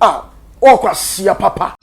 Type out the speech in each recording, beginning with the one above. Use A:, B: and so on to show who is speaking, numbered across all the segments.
A: a ɔwɔ kwasia papa.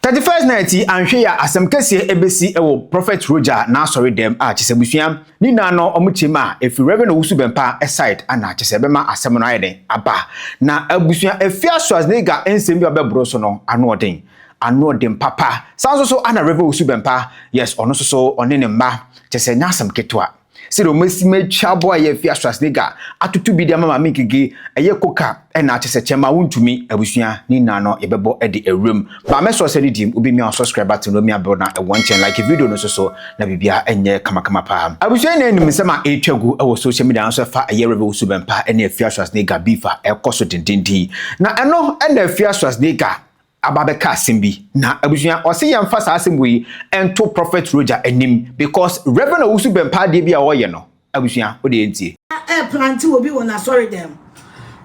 B: Thirty first night yi anhwɛ yɛ asɛm kɛseɛ ɛbɛsi ɛwɔ Prophet Roger n'asɔre dɛm a kyesɛ busua ne nyinaa no ɔmo kyɛm a ɛfiri Reverend Owusu Bɛmpa side ana kyesɛ ɛbɛma asɛm no ayɛ dɛn aba na abusua Afia Schwarzenegger nsɛm bi a ɔbɛboro so no ano ɔden ano ɔden papa saa nso so ana Reverend Owusu Bɛmpa yes ɔno nso so ɔne ne mma Kyerɛ sɛ ɛnyɛ asɛm ketewa. Sɛdeɛ wɔasi matwa bɔ a ɛyɛ afie a Schwarzenegger atoto bi de ama Maame Gigi ɛyɛ koka ɛna akyɛ sɛ kyɛmma wontumi abusua ne nyinaa no yɛbɛbɔ de awura mu. Ba mɛsɔ ɔsɛ no dim wobɛmia wo subscribe button no mia bell na ɛwɔ nkyɛn like video no nso so na biribiara nyɛ kamakama paa. Abusua nyinaa nim nsɛm a ɛretwa gu wɔ social media no so ɛfa ɛyɛ Revy Wusu Bɛmpa ne Afia Schwarzenegger beef a ɛrekɔ so dendenden yi. Na ɛno na Afia Schwarzenegger aba bɛka asɛm bi na abusua ɔse yɛnfa saa asɛm wei nto prophet Roger anim because Reverend Owusu bɛmpaa adeɛ bi a ɔyɛ no abusua wode yɛntie. ɛreplante obi
C: wɔ n'asɔredɛm.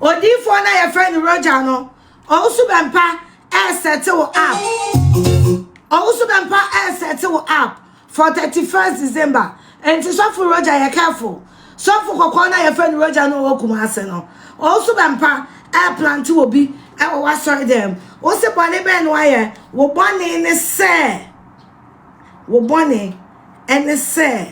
C: Odiyifoɔ no a yɛfrɛ no Roger no, Owusu Bɛmpa ɛresɛte wo app. Owusu Bɛmpa ɛresɛte wo app. For thirty first December nti sɔfo Roger yɛ careful sɔfo kɔkɔɔ na yɛfrɛ no Roger no ɔwɔ Kumase no ɔnso bɛ mpa ɛɛ plante wɔ bi ɛwɔ wasɔre dɛm wo se bɔne bɛn no ayɛ wo bɔne ne sɛ wo bɔne ɛne sɛ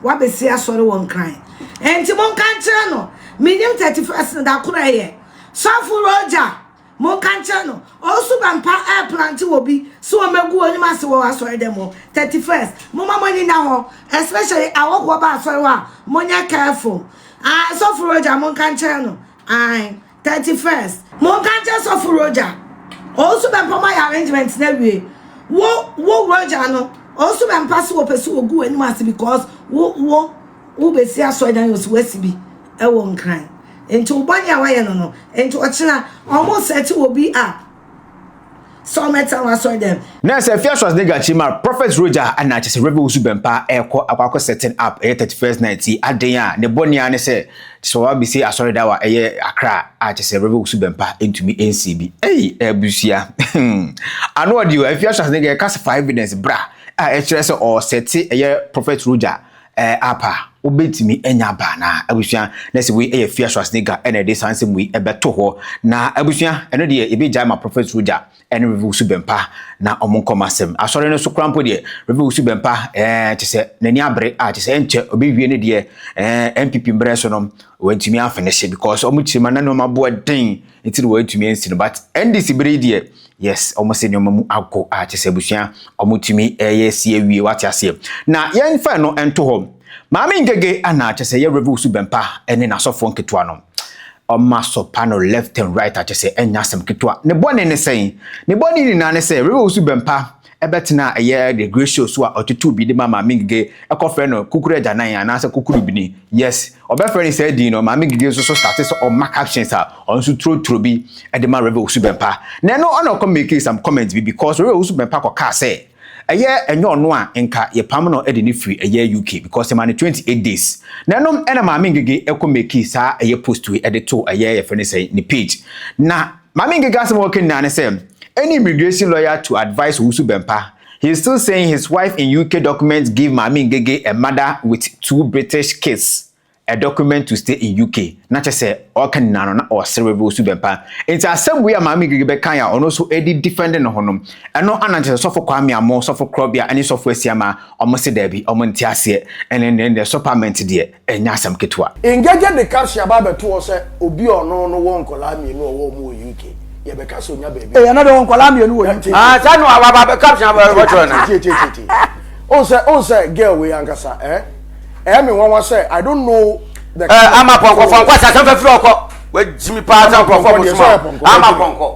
C: wabɛsi asɔre wɔ nkran nti mo nka nkyerɛ no menim thirty first no da koro ɛyɛ sɔfo Roger Monka nkyerɛ no, ɔnso bɛmpa ɛɛplante obi sɛ ɔmɛgu ɔnim ase wɔ asɔre dɛm hɔ, 31st momma moani nna hɔ especially awɔfoɔ ba asɔre hɔ a monyɛ careful ae, sɔfo Roger monka nkyerɛ no ae, 31st. Monka nkyerɛ sɔfo Roger, ɔnso bɛmpa moayɛ arrangement no awie, wo wo Roger no ɔnso bɛmpa sɛ ɔpɛsɛ ɔgu w'anim ase because wo wo. Wobɛsi asɔredan ɔsi wasi bi wɔ nkran nti wo bɔne a wayɛ no no nti ɔkyena ɔmo sɛkye wɔ bi a sɛ ɔmo ɛtena wɔ asɔredan mu. Na sɛ fia swas ne
B: gachi mar prophet roja ana kyɛ sɛ rebe wusu bɛmpa ɛkɔ akɔ akɔ setting up ɛyɛ 31st night ti aden a ne bɔne a ne sɛ kyɛ sɛ ɔwa bɛsi asɔredan wɔ ɛyɛ akra a kyɛ sɛ rebe wusu bɛmpa ntumi nsi bi ei abusua ano ɔde o fia swas ne ga ɛka sɛ fa evidence bra a ɛkyerɛ sɛ ɔsɛte ɛyɛ prophet roja Ɛɛ app a wobɛtumi anya aba anaa? Abusua, na sɛ wei yɛ Fia Schwarzenegger na ɛde saa nsɛm wei ɛbɛto hɔ. Na abusua, ɛno deɛ yɛbɛgyae ma Prophet Roger ɛne Rev. Wusu Bɛmpa na wɔn nkɔ wɔn asɛm. Asɔre no so koraa mpo deɛ, Rev. Wusu Bɛmpa ɛɛ kyɛ sɛ n'ani abere a kyɛ sɛ ɛnkyɛ ɔbɛwie ne deɛ ɛɛ NPP mbrɛ so no wantumi amfinish because wɔn kyerɛ mu a na nneɛma boɔ den nti na wɔantumi ansi no but NDC bere yi deɛ Yes, wɔn sɛ nneɛma mu ago a kyɛ sɛ abusua wɔn tumi ɛyɛ si awie wate aseɛ. Na yɛn fa no nto hɔ. Maame Ngege ana kyɛ sɛ yɛ Reverend Wusu Bɛmpa ɛne n'asɔfoɔ nketewa no. Wɔn asɔpa no left and right a kyɛ sɛ ɛnyɛ asɛm ketewa. Ne bɔne ne sɛn? Ne bɔne nyinaa ne sɛ Reverend Wusu Bɛmpa Ɛbɛtena a ɛyɛ Regressio so a ɔtotow bi de ma Maame Ngige, ɛkɔfrɛ no Kukuru Agyanan anaasɛ Kukuru Bini. Yes, wɔbɛfrɛ no saa din no. Maame Ngige nso so starte sɛ ɔma captions a ɔno nso trotro bi de ma Rev. Owusu-Bempah. Na ɛno ɔna ɔkɔ makee some comments bi because Rev. Owusu-Bempah kɔkaa sɛ ɛyɛ ɛnyɛ ɔno a nka yɛpam no de no firi ɛyɛ UK because yɛma no 28 days. Na ɛno ɛna Maame Ngige kɔ makee saa ɛyɛ post wei de too ɛyɛ yɛfrɛ no sɛn ne page. Na. Maame Ngige asɛm a ɔka nyinaa ne sɛ any immigration lawyer to advise Owusu Bɛmpa, he is still saying his wife in UK documents give Maame Ngige a mother with two British kids a document to stay in UK. Na kyerɛ sɛ ɔka nyinaa no na ɔresere Rev Owusu Bɛmpa. Nti asɛm wei a Maame Ngige bɛkae a ɔno nso ɛde defend ne ho no, ɛno ana nkyɛ sɛ Sɔfo Kwame Amoo, Sɔfo Korɔbea ne Sɔfo Asiamah wɔn se daabi, wɔn nte aseɛ, ɛne ne ne sopament deɛ. ɛnyɛ asɛm ketewa. Ngege de caption
A: aba abɛto hɔ sɛ obi a ɔno no wɔ nkwadaa mmienu a ɔwɔ wɔn wɔ UK. Yɛbɛka sɛ ɔnya baabi. Ɛyɛ no de ɔwɔ nkwadaa mmienu wɔ UK. Ah, saa no aba aba
D: caption aba abɛtwerɛ no. Tietietieti. Ohun sɛ ohun
A: sɛ girl wei ankasa eh ɛyɛ me nwanwa sɛ I don't know the. Eh, ama pɔnkɔ pɔnkɔ
D: asase nfa firi ɔkɔ. Wajimi paa sɛ nkurɔfoɔ mo soma. Ama pɔnkɔ.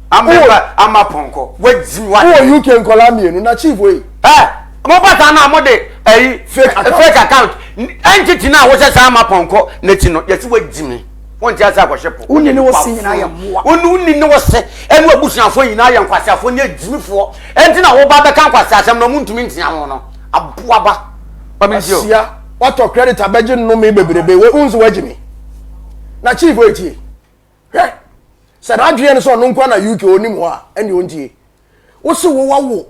A: Ameba
D: ama pɔnkɔ. Wagyi wa. Wowɔ UK nkɔla mmienu
A: na chief wei. Ɛ mo ba saa
D: no a mo de ɛyi fake account entity no a wohyɛ saa ama pɔnkɔ n'akyi no yɛsi wagyi me. Wonte ase akɔhyɛ po. Wonni ne wose nyinaa yɛ
A: mmoa. Wonni ne wose
D: ɛne abusuafoɔ nyinaa yɛ nkwaseafoɔ ne agyimifoɔ. Ɛnti na woba bɛka nkwaseasɛm na ɔmo ntumi ntia ho no. Aboa ba. Asia watɔ credit
A: abɛgye nnome bebrebe wei wonso wagyi me. Na chief wei tie. hwɛ sɛ n'adwene no sɛ ɔno nkoa na uk ɔnim hɔ a ɛne ɔntie wo se wo wawo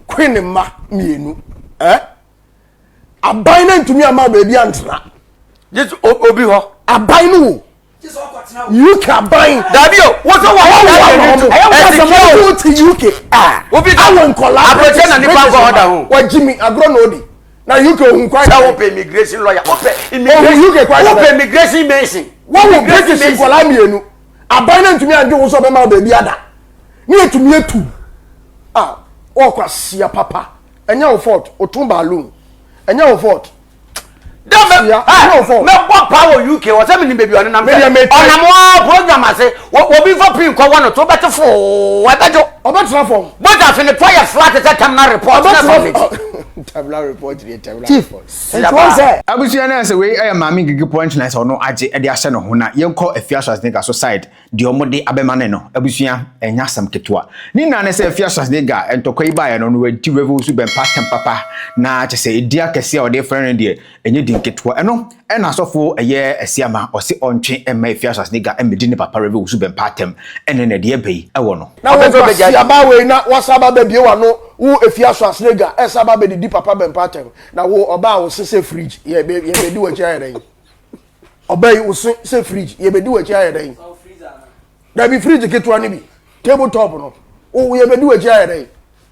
A: kwe ne mma mmienu eh? aban no ntumi ama baabi antena
D: obi hɔ aban no wo
A: uk aban dabi o wọ́n sọ wà
D: wọ́n wà wọ́n wọ́n ẹ ti kí o wọ́n ti
A: uk awọ
D: nkọla
A: abirajẹ na nípa nkọ
D: ọ̀dà o wọ́n jí mi agorɔ na ó
A: di. na uk ohun kwan sɛ wopɛ immigration
D: lawyer wopɛ immigration uk kwan sɛ wopɛ
A: immigration mason
D: wɔn wɔ british
A: nkɔla mmienu aban na ntumi adwo wosɔ bɛma baabi ada ne etumi etu a ɔkɔ asia papa ɛnyɛ wɔ fort otun balloon ɛnyɛ wɔ fort dɛbɛ
D: ɛnyɛ wɔ fort mɛ bɔ pa wɔ uk wɔ sɛ mi ni beebi ɔnenam sɛ ɔnam wɔ program ase Wɔ obi fa pii kɔ wɔ no to wobɛte foo ɛbɛdwo. Ɔbɛtena fam. Bogya
A: afe ne pɔ yɛ
D: flat te sɛ terminal report. Ɔbɛtena terminal
A: report yɛ terminal report. Nti wɔn sɛ. Abusua
B: no sɛ wei ɛyɛ maame ngigi punch line sɛ ɔno agye ɛde ahyɛ ne ho na yɛn kɔ afia Schwarzenegger so side deɛ ɔmo de abɛma ne no abusua ɛnyɛ asɛm ketewa ne nyinaa ne sɛ afia Schwarzenegger ntɔkwa yi baayɛ no ɔno wanti revel so bɛmpa atɛm papa na kyɛ sɛ ɛdin akɛseɛ a ɔde frɛ no deɛ Ɛnyɛ din ketewa. Ɛno na asɔfo yɛ asia ma, ɔse ɔntwe mma efi asase ne ga mmedi ne papa Rev Owusu Bɛmpa atɛm. Ɛnɛ na ɛdeɛ bɛyi wɔ no. Na wo nkwasia baa
A: wei na woasan aba abɛbie w'ano wo efi asɔase ne ga ɛsan aba abɛdidi papa Bɛmpa atɛm. Na wo ɔbaa wo se sɛ fridge yɛ yɛbɛdi w'akyi ayɛ dɛn? Ɔbaa yi wo se sɛ fridge yɛbɛdi w'akyi ayɛ dɛn? Dabi fridge ketewa no bi, table top no, wo yɛbɛdi w'akyi ayɛ dɛn?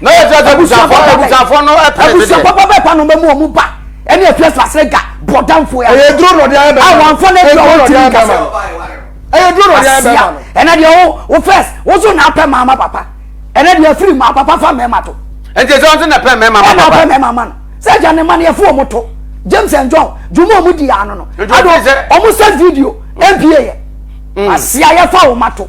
A: na yɛ gyina abusuafo
D: abusuafo no ɛpɛ de abusuafo papa bɛɛ pa
A: no bɛ mu ɔmu ba ɛne ɛfɛ so asere ga bɔdanfo ya ɛyɛ duro na ɔde ayɛ bɛma no
D: awanfo na ɛdi ɔwɔ ti
A: mi kasa ɛyɛ duro na ɔde ayɛ bɛma no ɛnɛ deɛ wo wo fɛs wo so na apɛ maama papa ɛnɛ deɛ firi maa papa fa mɛma to ɛnti ɛsɛ ɔnso na pɛ
D: mɛma papa ɛna apɛ mɛma ma no
A: sɛ gya ne ma no yɛfo ɔmo to james and john juma ɔmo di ano no ado ɔmo sɛ video npa yɛ asia yɛfa ɔmo ato.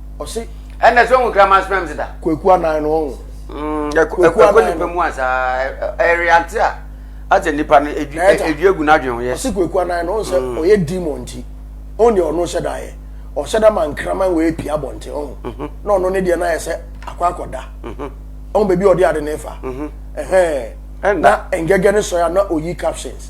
A: ɔse ɛnna sɛ ɔhu kraman
D: sperm deda kwaku anan no ɔhu
A: kwaku
D: nipa mu a saa ɛreante a asɛ nipa no ɛdwi agu no adwen ho yɛ ɔse kwaku anan no ɔhu sɛ
A: mm. ɔyɛ demon nti ɔhu deɛ ɔno hyɛ da yɛ ɔhyɛ da ma nkraman wɔ ɛpia bɔnten ɔhu mhm. na ɔno ne deɛ no ayɛ sɛ akɔ akɔda mhm. ɔhu baabi ɔde ade ne fa mhm. na ɛngɛgɛ ne sɔe a na ɔyi captions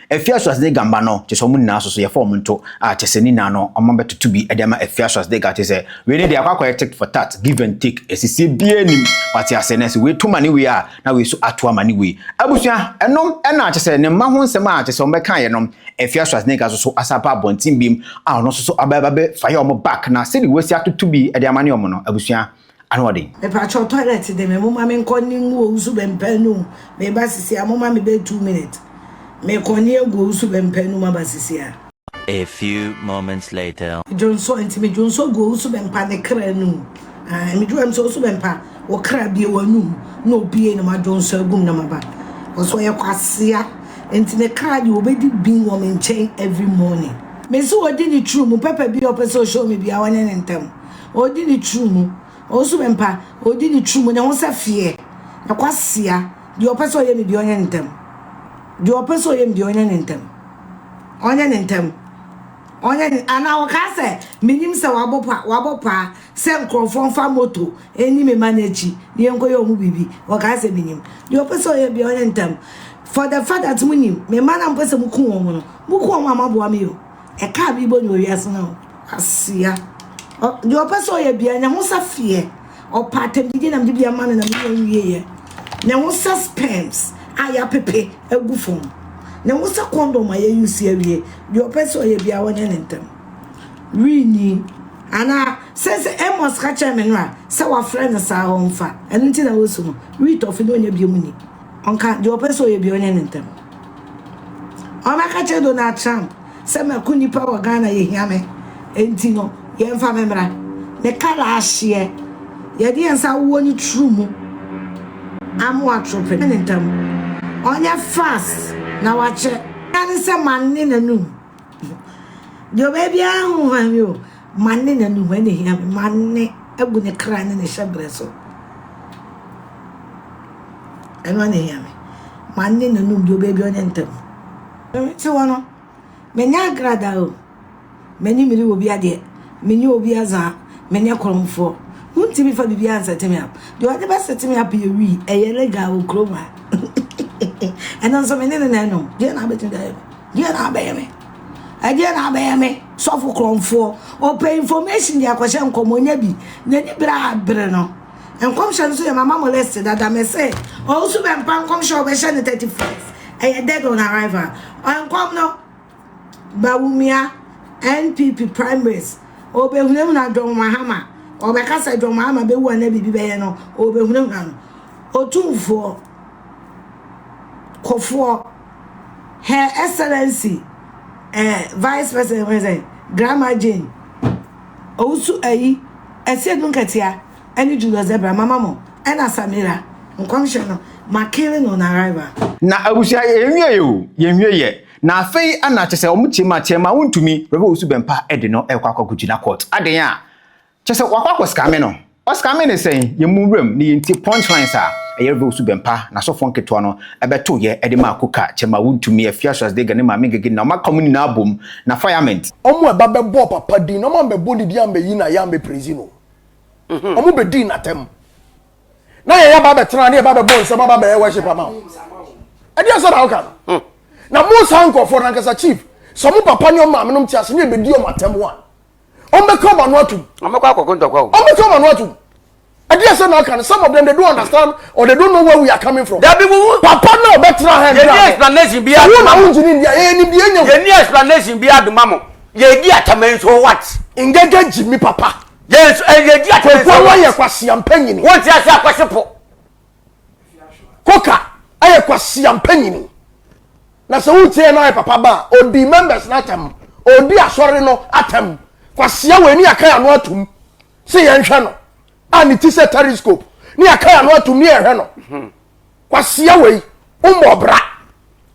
B: Afia Schwarzenegger mma no, kyerɛ sɛ wɔn nyinaa nso so yɛfa wɔn nto a, kyerɛ sɛ ne nyinaa no wɔabɛtoto bi de ama Afia Schwarzenegger kyerɛ sɛ wei ne deɛ akɔ akɔyɛ tit for tat, give and take, asisie biara nnim, wate aseɛ, na sɛ wei to ma ne wei a, na wei nso ato ama ne wei. Abusua, ɛno na kyerɛ sɛ ne mma ho nsɛm a kyerɛ sɛ wɔbɛkaeɛ no, Afia Schwarzenegger nso so asan aba abɔnten bio a ɔno nso so abɛba abɛfa yɛ wɔn back na sɛdeɛ wɔasi atoto bi de ama ne wɔn no, abusua. Anoɔden. Mepakyɛw toilet
C: de me moma me nkɔ ne ngu owu so bɛmpa anum meba sisi a moma me bɛ two minute me kɔ ne agu owu so bɛmpa anum aba sisi a. A few
E: moments later. Dwonsɔ nti me dwonsɔ
C: gu owu so bɛmpa ne kra anum aah me dwuam sɛ owu so bɛmpa wo kra bie wanum na obie na ma dwonsɔ agum na maba cause ɔyɛ kwasea nti ne kra deɛ obedi bin wɔ me nkyɛn every morning. Me se odi ne true mu pɛpɛ bia ɔpɛ sɛ o show me bia ɔnyɛ ne ntɛm. Odi ne turumu. Ɔnsu me mpa. Odi ne turumu. Ne ho sɛ feɛ. Na kwasea. Deɛ ɔpɛ sɛ ɔyɛ ne deɛ ɔnyɛ no ntɛm. Deɛ ɔpɛ sɛ ɔyɛ ne deɛ ɔnyɛ no ntɛm. Ɔnyɛ no ntɛm. Ɔnyɛ no anaa ɔkaa sɛ menim sɛ wabɔ pa wabɔ paa sɛ nkurɔfoɔ mfa moto ɛni me ma no akyi na yɛnkɔyɛ ɔmo biribi. Ɔkaa sɛ menim. Deɛ ɔpɛ sɛ ɔyɛ deɛ ɔnyɛ no ntɛm. For the fact that monim me mma no a mopɛ sɛ moku wɔn no moku wɔn a moaboa me o. Ɛkaa bi bɔ nyɛ wiase no asia. Ɔ deɛ ɔpɛ sɛ ɔyɛ bia nyɛ ho sɛ feɛ. Ɔpɛ atɛmdidi nam de bi ama no nam nyɛ nwieɛ. Nyɛ ho sɛ sperms a yɛapepe agu fam. Nyɛ ho sɛ kɔndɔm a yɛyi si awie. Deɛ ɔpɛ sɛ ɔyɛ bia ɔnyɛ ne ntɛm. Wii ni. Anaa sɛ sɛ Amos ka kyerɛ me no a sɛ wafrɛ no saa ɔmfa. Ɛno nti na wosu no. Wii tɔfe na ɔnya biom ni. Ɔnka deɛ ɔpɛ sɛ ɔyɛ biara ɔnyɛ no ntɛm. Ɔbɛka kyerɛ Donald Trump sɛ mako nipa wɔ Ghana yɛhia me enti no yɛmfa me mmra. Ne kar ahyeɛ. Yɛde yɛn nsa awowɔ ne turu mu ama watoro pene ne ntɛm. Ɔnyɛ fast na wakyɛ. Mmara ne sɛ mane n'anum Deɛ ɔbɛyɛ biara ho hwan me o. Mane na nnuhwan na ɛhia me. Mane abu ne kra ne ne hyɛberɛ so. Ɛno ara na ɛhia me. Mane na num deɛ ɔbɛyɛ biara ɔnyɛ ntɛm. Te hɔ no, menyɛ agrada o. M'ani mmere wɔ obiara deɛ. Menyɛ obiara dza. Menyɛ korɔmfoɔ. Wontumi fa biribiara nsɛte me up. Deɛ ɔde bɛsɛte me up yɛ wii. Ɛyɛ legal wɔ kurom ha. Ɛno nso me ne no na ɛnom. Deɛ na abɛtumi de ayɛ me. Deɛ na abɛyɛ me? Ɛdeɛ na abɛyɛ me? Sɔfo korɔmfoɔ, ɔpɛ information de akɔhyɛ nkɔm, ɔnya bi, n'ani berɛ a bere no. Nkɔmhyɛ no so yɛ mama mo list dada, me se, ɔwusu bɛ mpa nkɔmhyɛ ɔbɛhyɛ no 31st, ɛyɛ dead on arrival. Nkɔm no, Bawumia, NPP primaries, ɔbɛhunahuna John Mahama, ɔbɛka sɛ John Mahama bɛwu anaa biribi bɛyɛ no, ɔbɛhunahuna no. Otumfoɔ, kofoɔ. Her Excellency eh, Vice President fɛn sɛ Grandma Jane Owusu Ayi Asiedu Nketeaa ɛne Julius Zebra mama mo ɛna Samira Nkɔmhyɛ no ma killing on arrival. Na abusua yɛ
B: nwie yɛ o yɛ nwie yɛ na afei na kyɛ sɛ wɔn kyeema kyeema wɔn ntumi Rev Owusu Bɛmpa ɛde no ɛkɔ akɔ kɔ gyina court aden a Kyerɛ sɛ wakɔ akɔ scammer no. Ɔ scammer no sɛn? Yɛn mu wuram ne yɛn ti punch lines a ɛyɛ reveal so Bɛmpa na asɔfoɔ nketewa no bɛtoo yɛ de maa Kuka, Kyɛma Wontumi, Afia Schwarzenegger ne Maame Ngege na wɔn aka mu nyinaa bom na Firemeent. Wɔn a ɛba bɛbɔɔ
A: papa din na wɔn ammɛbɔ ne din ammɛyi no ayɛ ammɛpraise no. Wɔn bɛdii n'atɛm. Na yɛn aba abɛtena ne yɛba abɛbɔ nsam aba abɛyɛ worship ama wo. Ɛdeɛ asɛm na woka no? Na mo saa nkurɔfoɔ no ankasa chief sɛ wɔn papa ne wɔn maame nom te ase ne yɛbɛdi wɔn atɛm a wɔn bɛ kɔ wɔn ano atum. wɔn bɛ kɔ akɔko ntɔkwa o.
D: wɔn bɛ kɔ wɔn ano atum.
A: ɛdi ɛsɛ na ɔka no some of them they don't understand or they don't know where we are coming from. dabi wuwu. papa
D: náà bɛ
A: tẹ̀ra hàn. yẹ ní explanation bi
D: aduma mu. wọn náà wọn ti ní ndíyà yẹ ní ndíyà nyẹ. yẹ ní explanation bi aduma mu yẹ di atama nso what. ngẹgẹ jì mi
A: papa. yẹ nso ẹ yẹ di
D: atama nso what. kò fún wa yẹ kwasi àmpẹ
A: nyini. wọn ti ase akwasi po. Koka ayɛ kwasia mpanyini na sɛ wotie no ayɛ papa ba a ɔdi members no atam ɔdi asɔre no atam kwasia wɔ ani akan ano atom sɛ yɛnhwɛ no a ne ti sɛ telescope ne akan ano atom ne yɛhwɛ no kwasia wei wommɔ bra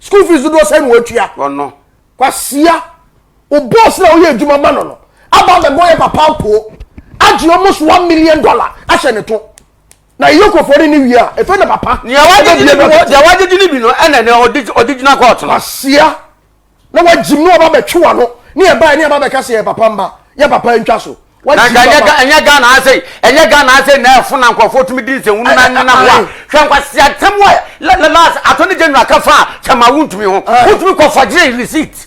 A: school fees dodoɔ sɛ no watua kwasia wo boss na woyɛ adwuma ma no no aba bɛbɔ yɛ papa apoo agye almost one million dollar ahyɛ ne to Na yɛ kɔfoɔ ne ne wie a, ɛfɛ na papa. Nea wagyegye ne bi no,
D: deɛ wagyegye ne bi no, ɛna ne ɔde gyina kɔɔto no. Asia
A: na wagyim na waba bɛtwe wano ne ɛbaɛ ne ɛba bɛka sɛ yɛ papa mma, yɛ papa ntwa so. Wagyim papa. Ɛnyɛ
D: Ghana ase, ɛnyɛ Ghana ase na ɛfo na nkurɔfoɔ tumi di nsɛnwunu na nena ho a. Hwɛ nkwasia ntɛm wɔ last attorney general ka fa a kyɛ ma wontumi ho. Wontumi kɔ fɔgyere receipt.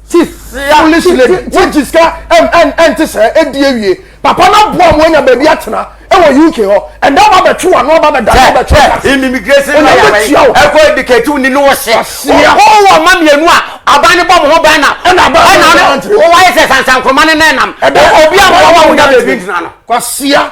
D: ti
A: foolish lady wogye sika ɛnte sɛ ɛdi awie papa no aboa mo anya baabi atena ɛwɔ uk hɔ ɛnda ba bɛtwe wano aba bɛda no
D: bɛtwe ɛkɔ edikati woni ne wɔhyɛ ɔkɔɔ wɔ ma mmienu a aban ne bɔ mo ho bɛn na ɛna wayɛ sɛ sansankoroma ne na ɛnam obi a wɔwa wonya baabi ntena no kwasia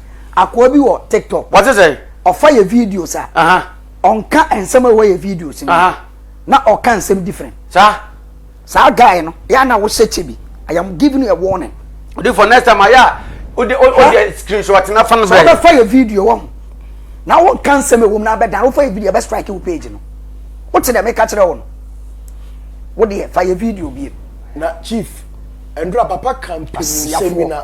F: akoa bi wɔ tiktok. wɔte sɛ. ɔfa
D: yɛ videos
F: a. ɔnka nsɛm a ɛwɔ yɛ videos no. na ɔka nsɛm different. saa. saa guy no yɛ na wohyɛ kyɛ bi i am giving you a warning. odi for next time
D: ayɛ a wode wode screenshot na fa no brɛ. sɛ wobɛfa yɛ video
F: wɔ ho na wonka nsɛm ɛwɔ mu na abɛdan wofa yɛ video ɛbɛ strike wo page no wote dɛ meka kyerɛ wo no wodeɛ fa yɛ video biem. na chief
A: ɛndura papa kan pii sɛmi na.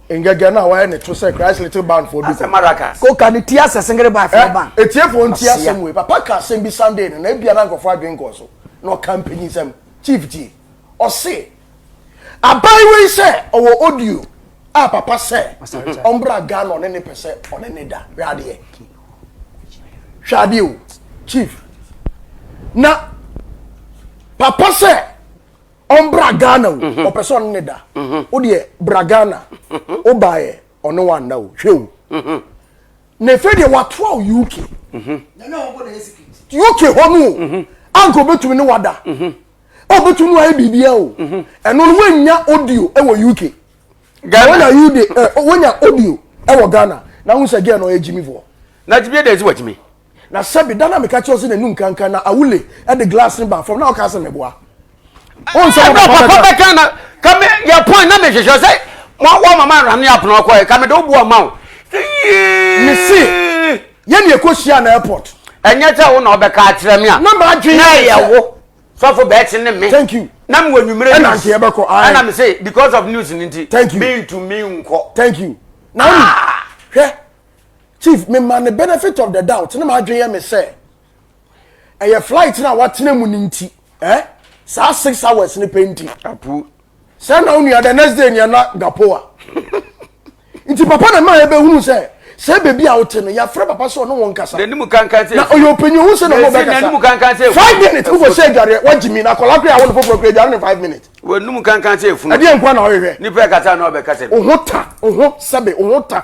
A: Ngege na wayɛ ne to sɛ Christ Little Band foɔ bi ko. Ko ka ne tia
D: sɛ
F: singere band foɔ ban. Eh, etiefoɔ ntie asɛm
A: wei. Papa ka asɛm bi Sunday no na ebia na nkurɔfoɔ adwene nkɔɔ so. Na ɔka mpanyinsɛm. Chief tie. Ɔse aban wei sɛ ɔwɔ audio a papa sɛ ɔmbra Ghana ɔne ne pɛ sɛ ɔne ne da. Hwɛ adeɛ. Hwɛ adeɛ o. Chief. Na papa sɛ Ɔmbra Ghana o, ɔpɛ sɛ ɔne ne da. Wo deɛ bra Ghana, wo baeɛ ɔne wo anna o, hwɛ o. Na ɛfei deɛ watoa wo UK.
C: UK hɔ no o,
A: anka obɛtumi ne wada. Obɛtumi ne wayɛ biribia o. Ɛno no woannya audio wɔ UK. Ghana. Wonya audio wɔ Ghana. Na wohu sɛ gɛɛ no ɔyɛ gyimifoɔ. Na gyimie dɛn nti wagyimi?
D: Na sɛbi da na
A: meka kyerɛ wo sɛ n'anum kankan na awule de glass no baa fam na woka sɛ meboa. Wo nsɛm a papa bɛka na
D: ka me yɛ pɔn na mehwehwɛ sɛ wɔn mama aram ne apono akɔɛ ka mede wo boɔ ma wo.
A: Mese yɛne ɛkɔhyia na airport. Ɛnyɛ sɛ wo na
D: ɔbɛka akyerɛ me a. Na m'adwene na ɛyɛ
A: wo
D: sɔfo bɛɛkye ne me. Thank you. Na mewɔ
A: nwumerɛ news. Ɛna
D: nkeɛ bɛkɔ. Ɛna
A: mese because
D: of news no nti. Thank you. Mentumi
A: nkɔ.
D: Thank you. Na
A: ah! hwɛ chief mema ne benefit of the doubt ne m'adwene yɛ me sɛ ɛyɛ flight no a watena mu no nti eh? saa six hours no pɛ nti apu
D: sɛ na wo nua
A: the next day nea na gapoa nti papa na ma yɛbɛhunu sɛ sɛ baabi a wote no yɛafrɛ papa sɛ ɔne wɔn kasa na ɔyɛ
D: ɔpanyin hu sɛ na ɔmɔ
A: bɛkasa five
D: minutes wofɔ sɛ adwareɛ
A: wagye mi na akɔla kora a wɔne foforɔ kora adware ne five minutes wɔnum kankan sɛ
D: efunu ɛdeɛ nkwa na ɔhwehwɛ nipa
A: kasa na ɔbɛkasa
D: bi oho ta oho
A: sɛbe oho ta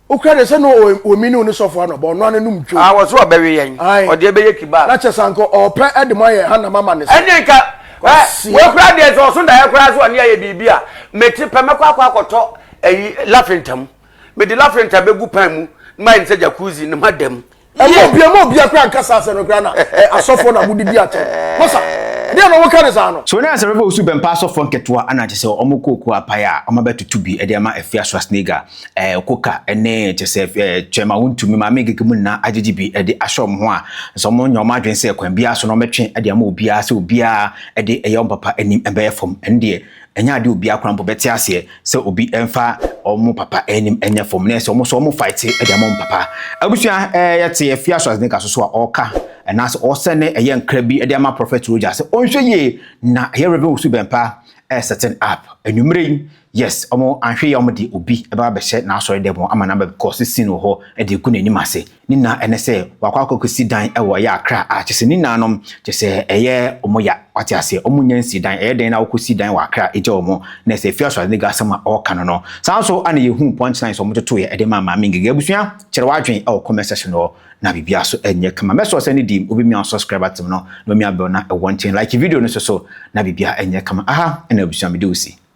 D: wokura de sɛ no
A: wɔmi ne wo ne sɔfo anɔba ɔno ano nom dwo ah, wɔso ɔbɛwe yɛn
D: ɔde ɛbɛyɛ kibaa na kyɛ sɛ anka ɔpɛ
A: de mo ayɛ ha nam ama ne so ɛne nka
D: wɔkura deɛ sɛ ɔso daeɛ koraa so ɔne ayɛ biribi a mete pɛ mɛkɔ akɔ akɔtɔ ayi lafenta mu mede lafenta bɛgu pan mu ma ɛne sɛ jacuzzi ne ma dam ɛmu
A: obi ɛmu obi akora ankasa asɛ no kora na ɛ asɔfo na mo didi akyɛ masa ɛdi ɛna wɔn ka ne saa no. so na asɛm bɛ osu bɛmpa
B: asɔfo nketewa ɛna kyɛ sɛ wɔn kɔ okuo apae a wɔn abɛ tutu bi ɛde ama ɛfia swasnega ɛɛ koka ɛne kyɛ sɛ ɛɛ twɛm a wɔn tumi maame gege mu nyinaa agyegye bi ɛde ahyɛ wɔn ho a nso wɔn nya wɔn adwene sɛ kwan biara so na wɔn bɛtwe ɛde ama obiara sɛ obiara ɛde ɛyɛ wɔn papa anim ɛbɛyɛ fam ɛne deɛ Ɛnyɛ adeɛ a obiara koraa mpo bɛte aseɛ sɛ obi mfa wɔn papa anim nyɛ fam na ɛsɛ wɔn nso wɔn faete de ama wɔn papa. Abusua ɛɛ yɛte afia Schwarzenegger so so a ɔreka anaasɛ ɔresɛne ɛyɛ nkra bi de ama Prophet Roger sɛ ɔnhwɛ yie na ɛyɛ Rev. Owusu Bɛmpa ɛɛ setting up anwummerɛ yi yes wɔn anhwɛ yie a wɔde obi ɛbɛba abɛhyɛ n'asɔre dɛm hɔ ama no abɛkɔ sesin wɔ hɔ de agu n'anim ase. Ne na ɛne sɛ wakɔ akɔsi dan wɔ ɛyɛ Accra a kyɛ sɛ ne naanom kyɛ sɛ ɛyɛ wɔn ya wate aseɛ wɔn nya nsi dan ɛyɛ dɛn na wokɔsi dan wɔ Accra gya wɔn na sɛ Fiasco Adega asɛm a ɔreka no no saa nso ana yɛhuu punch lines wɔn totoeɛ ɛde maa Maame Ngige abusua kyerɛ w'adwen wɔ comment section hɔ na biribiara so ɛnyɛ kama mɛsɔ sɛ ne di mu wobɛmia subscriber tem no na wamia bell na ɛwɔ nkyɛn like video no so so na biribiara ɛnyɛ kama aha ɛna abusua mede wo si.